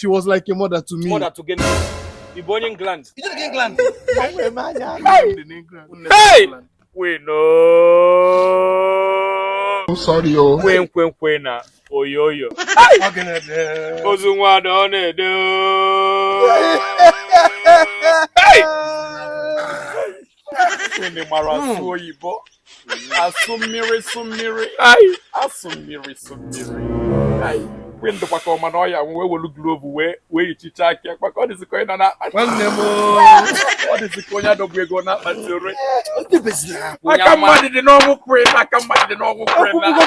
She was like a mother to me. Mother to gịnị? Ị bụ onye England? Ị jere England? Hey! We know. I'm sorry o. Queen Queen Queen na oyoyo. Ozu nwa ada ọ na-ede. Hey! Unu mara asụ hmm. oyibo asụ mmiri sụ mmiri asụ mmiri sụ mmiri mgbe ndụ kwaka ọma na ọya wee welu glove wee wee yichicha aka ekpa ka ọ dịzi ka onye nọ n'akpati ọ dịzi ka onye a dọbego na mortuary aka mmadụ dị n'ọnwụ Queen aka mmadụ dị n'ọnwụ Queen na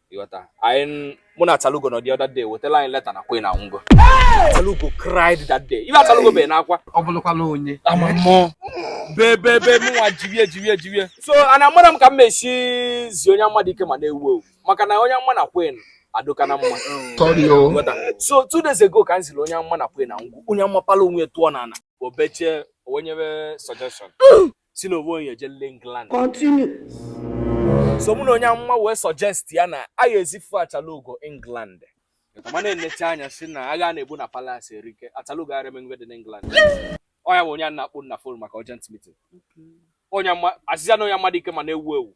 ịghọta anyị mụ na Achalugo nọ the other day e wetara anyị leta na Queen anwụgo Achalugo cried that day ife Achalugo bee n'akwa ọ bụrụkwala onye ama mmụọ bee bee bee mụnwa jirie jirie jirie so ana amara m ka m mesi zi onye amụma Dike ma na-ewu ewu maka na onye amụma na Queen adịka na mma so two days ago ka m ziri onye amụma na Queen anwụgo onye amụma pala onwe tụọ n'ala o bechaa o nye suggestion si na o nwee onye ejele England continue so mụ na onye amụma wee suggest ya na a ga-ezifu Achalugo England mana enecha anya si na agha a na-ebu na palace erike Achalugo ara emengwe dị n'England ọ ya bụ onye a na-akpọ na phone maka urgent meeting onye amụma Azịza na onye amụma Dike ma na-ewu ewu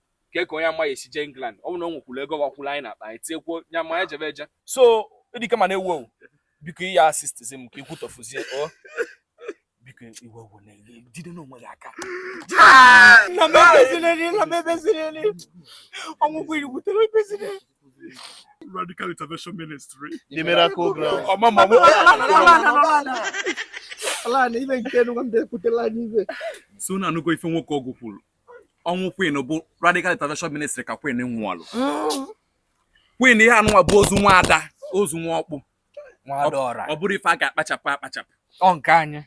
kee ka onye amụma ya-esi jee England ọ bụrụ na o nwekwuru ego bakwuru anyị n'akpa anyị tinyekwuo ya ma anyị jebe eje so Dike ma na-ewu ewu biko i ya-assistzi m ka ikwu tọfuzie o biko iwe ogwu na-ejide n'onwe gị aka na m ebezireli na m ebezireli ọnwụ Queen butere ebezire Radical Intervention Ministry. The Miracle Ground. ọma ma mụ ala na ibe nke nwa m bịakwutela anyị ibe so unu anụgo ife nwoke ọgwụ kwuru ọnwụ queen bụ radical intervention ministry ka queen nwụọlụ queen ihe anụnwa bụ ozu nwa ada ozu nwa ọkpụ nwa ada ọra ọ bụrụ ife a ga-akpachapụ akpachapụ ọ nke anyị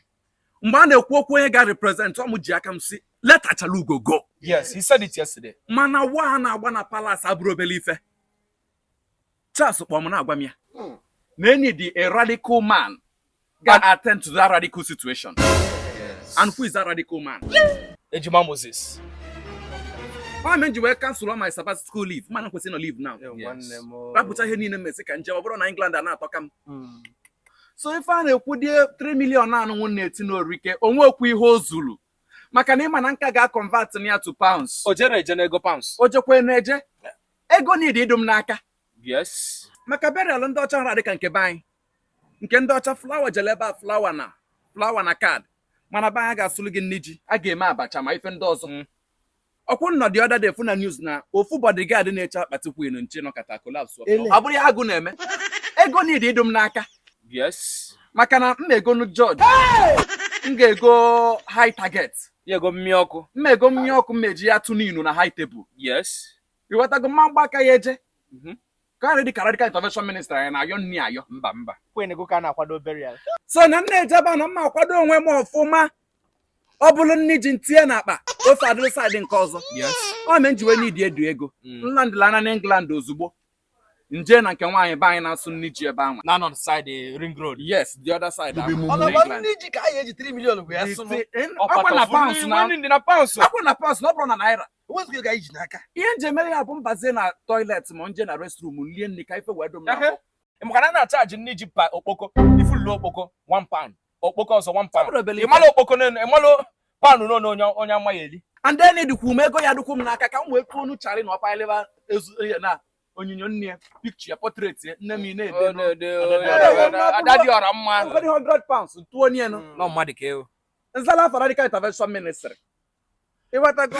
mgbe a na-ekwu okwu onye ga represent ọ m ji aka m si let Achalugo go yes he said it yesterday mana war a na-agba na palace abụrọ obele ife Charles kpọrọ m na-agwa m ya hmm. na e need a radical man ga attend to that radical situation and who is that radical man Ejima Moses ọ mere ji wee cancel ọ my Sabbath school leave mana kwesị nọ leave now rapụcha ihe niile m me si ka m jee ọ bụrọ na England a na-atọka m hmm. so ife a na-ekwu dị 3 million anụnwa na-eti n'orike o nwekwa ihe o zuru maka na ị ma na m ka ga-aconvert nya to pounds o jere eje n'ego pounds o jekwa na-eje ego need ịdụ m n'aka yes maka burial ndị ọcha hara dịka nke be anyị nke ndị ọcha flower jele ebe a flower na card mana be anyị ga-asụlụ gị nni ji a ga-eme abacha ma ife ndị ọzọ mm. ọkwụ nnọ the other day fụ na news na ofu bodyguard na-eche akpati Queen nche nọkata collapse ọ bụrụ ya agụụ na-eme ego need ịdụ m n'aka yes maka na m egonu George m ga-ego high target ya ego mmịa ọkụ m ego mmịa ọkụ m eji ya tụ n'inu na high table yes ịwọtago m ama agba aka ya eje mhm. ka radical intervention ministry ya na-ayọ nni ayọ mba mba Queen go ka a na-akwado burial so na m na-ejeba na mma akwado onwe m ọfụma ọ bụrụ nni ji m tinye n'akpa ofe adịrị side nke ọzọ ọ mee m ji wee need edu ego mm. m landịla na england ozugbo m je na nke nwaanyị be anyị na-asụ nni ji ebe anwa na side eh, ring road yes the other side nni ji ka anyị eji 3 million wee sụ ọkwa na pounds na ọkwa na pounds na ọ bụrụ na naira enwezikwa ego anyị ji n'aka ihe m je emere ya bụ m bazie na toilet ma m je na restroom lie nni ka ife wee dụ m na Ehe. maka na a na-acharge nni ji per okpoko ifulu okpoko 1 pound okpoko ọzọ 1 pound Ọbụrụ obele ife. ị malụ okpoko n'elu ị malụ pound n'ọnụ onye onye amaghị eli and then dịkwu m ego ya dịkwu m n'aka ka m wee kwuo onu Charlie na ọpaileba ezu ya na onyinyo nne ya picture ya portrait ya nne m ị na-ede n'o- ada dị ọra mma 100 pounds tụọ nienu nọ mmadụ ka ewu m zala afa radical intervention ministry ịwọtago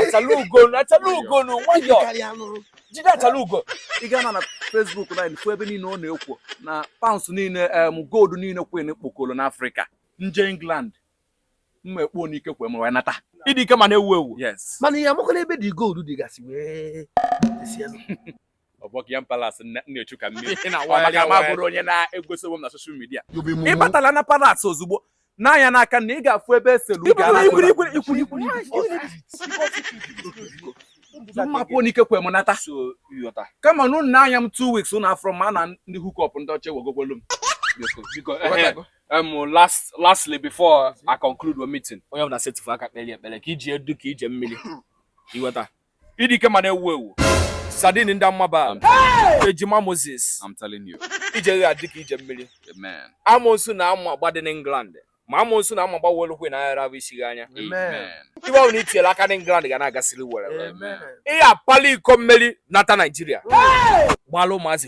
achala ugonu achala ugonu nwayọ karịa anụ jide achala ugo ị gaa na na Facebook na fụ ebe niile ọ na-ekwu na pounds niile em gold niile Queen kpokolo n'Africa m je England mma ekpo n'ike kwe m wee nata ịdị ike ma na-ewu ewu yes mana ihe amakwana ebe the gold dịgasị wee dịsịa ọ bụ Buckingham Palace m na-echu ka mmiri Ị na-awagharị Ọ maka m awagharị. abụrọ onye na-egosi onwe m na social media You be mumu. ị batala na palace ozugbo n'anya n'aka na ị ga-afụ ebe eselu Ibu na ikwuru ikwuru ikwuru ikwuru mma ekpo n'ike kwe m nata so ịghọta kama na unu nee anya m two weeks unu afụrọ m na ndị hookup ndị ọcha ewegokwalụ m biko biko Ghọtago? um, last lastly before I conclude the meeting onye ọbụla setịfụ aka kpere ekpere ka ije a dụ ka ije mmiri ịwọta ịdị ike ma na-ewu ewu sardine ndị amaba ejima moses I'm telling you. ije ga-adị ka ije mmiri Amen. amosu na-ama agba dị n'England ma amosu na-ama agba welụkwe na aghara bụ isi gị anya Amen. ebe ọbụla i tinyere aka n'England ga na-agasịrị were Amen. ị ya-apali iko mmeri nata Nigeria gbala ụmụazị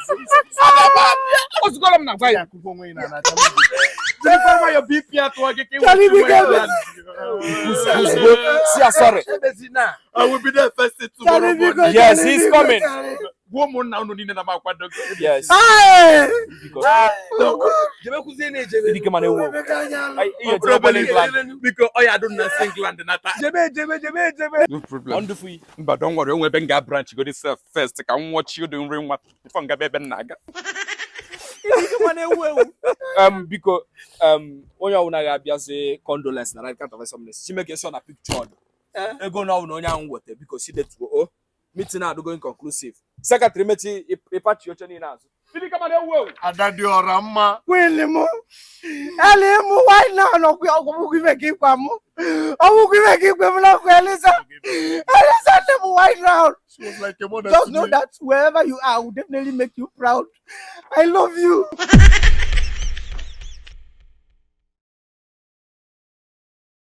ozugoro m na-agwa ya sị ya sorry yes he's coming gwa ụmụnna unu niile na m akwado yes dike mana ewu ihe jere obere England biko ọ ya adụ na si England nata wonderful but don't worry o nwe ebe m ga branch godi sef first ka m nwọchie ụdị nri nwa before m gaba ebe m na-aga um, biko um, onye ọbụla ga-abịazi condolence na right count of examination si make sure na picture ọdụ eh? ego na ọbụla onye ahụ weta biko si detuo o oh, meeting adịgo inconclusive secretary mechie ị pachi oche niile azụ ada dị ọra mma wili m eli mụ why now anọkwa ọ bụghị ife gị gwa m ọ bụghị ife gị kwe m na nkwa eliza eliza nne m why now just know that wherever you are I will definitely make you proud I love you